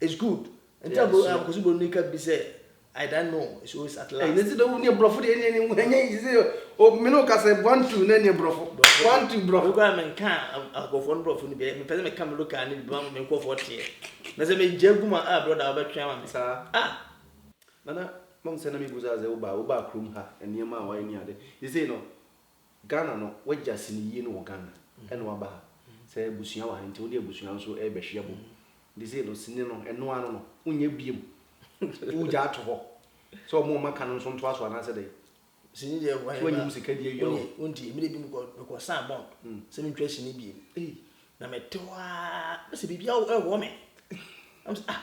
It's good nti a bro ɛɛ kɔsi bro ni ka bi sɛ I don't know it's always at last. Ɛɛ ne ti dɛ wo ni brɔfo deɛ ɛni ɛni ɛnyɛ yi sɛ o mi ni o ka sɛ one two ne ni brɔfo one two brɔfo. Mi kura mi nka akɔfɔ ni brɔfo ni bi mi pɛ sɛ mi ka mi local ni bi mi nkɔfɔ tiɛ na sɛ mi jɛ gu ma a brɔda ɔbɛ twɛn ma mi. Saa ah. Nana mom sɛ na mi bu saa sɛ wo ba wo ba krom ha nneɛma a wayɛ ni ade sisei no Ghana no wagya sini yie no wɔ Ghana ɛna waba ha sɛ abusua wɔ ha nti wode abusua nso ɛrebɛhwe abom nti sei no sini no ɛno ara no no wonyɛ biom wogya ato hɔ sɛ ɔmo ɔmo aka no nso ntoa so anaasɛ dɛn sini deɛ wɔ so anya mu sika di awia o wonti mmiri bi mekɔ mekɔ saa bɔn hmm. sɛ mentwa sini biem na mete hɔ a sɛ biribi ɛwɔ me ah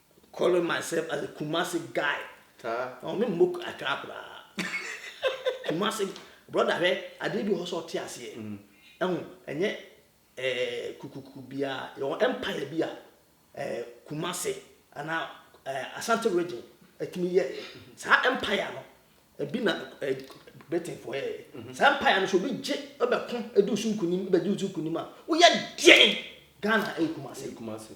Calling myself as a Kumasi guy na ɔne mmɔ atwaa koraa Kumasi brother hwɛ adeɛ bi wɔ hɔ sɛ ɔte aseɛ ɛho ɛnyɛ ɛɛ kukuku biara yɛwɔ empire bi a ɛɛ Kumasi anaa ɛɛ Asante region ɛtumi yɛɛ saa empire no ebi na ɛɛ Britain foɔ yɛɛ saa empire no so obi gye ɛbɛko ɛdi so nkunim ɛbɛdi so nkunim a woyɛ deɛn Ghana ɛwɔ Kumasi.